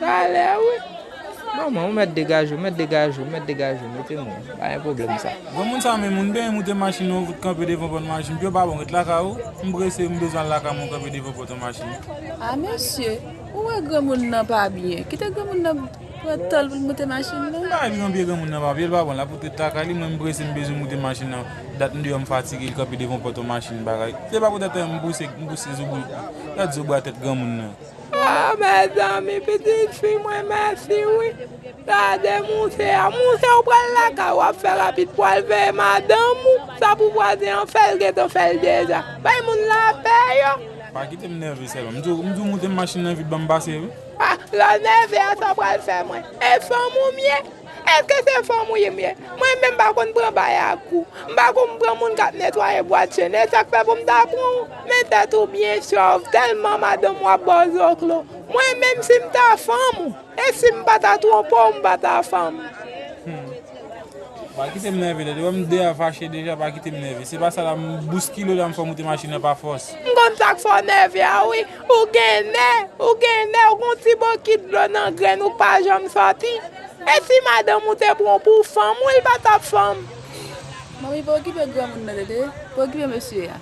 Talè wi Manman ou mèt degaje ou mèt degaje ou mèt degaje ou mete moun pa gen pwoblèm sa. Granmoun sa menm ou n benyen moute machin ou fout kanpe devan pòt machin piyo pa bon ret lakay ou m prese m bezwen al lakay mwen kanpe devan pòt yon machin. Ah mesye ou wè granmoun nan pa byen kite granmoun nan pran tanl poul moute machin nan. M pa wè ki nan pye granmoun nan pa byen l pa bon la fout ret lakay li mwen m prese m bezwen moute machin nan dat m deyò m fatige l kanpe devan pòt yon machin bagay se pa pou tèt an m pouse m pouse zo bri dat zo bra tèt granmoun nan. Ah mezanmi pitit fi mwen mèsi wi gade mouse a mouse ou pral lakay wap fè rapid pou al veye madanm ou sa pou vwazen an fèl gentan fèl deja bay moun lapè yo. Pa kitem nève sèlman. M diw m diw moute machin nan vit banm pase wi. Ah lòl nève a sa pral fè mwen. E fanm ou m ye? Eske se fanm ou ye m ye? Mwen menm m pa konn pran bay ak kou. M pa konn pran moun k ap netwaye bwat chen. E sa k fè pou m ta pran ou? Men tèt ou byen chòv, tèlman madanm ou ap ba w zoklo. Mwen menm si m ta fanm ou, e si m pa ta twonpe w m pa ta fanm ou? Pa kite m nève, lè li wè m deyò fache deja, pa kite m nève. Se pa sa la, m bouskile w la m fè w moute machin nan pa fòs. M konn sa k fè w nève a wi. Ou gen nè, ou gen nè, ou gen yon ti bokit dlo nan grenn ou pa janm sòti. E si madanm ou te pran w pou fanm ou, li pa t ap fanm. Manmi pa okipe granmoun nan tete, pa okipe mesye a.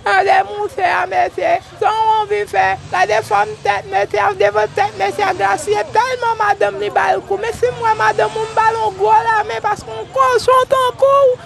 Gade mouse a mesye, sa w anvi fè, gade fòm tèt mesye a, devan tèt mesye a grasiye tèlman madanm li ba l kou, men si m wè madanm ou m ba l yon gwo lamen paske yon kochon tankou w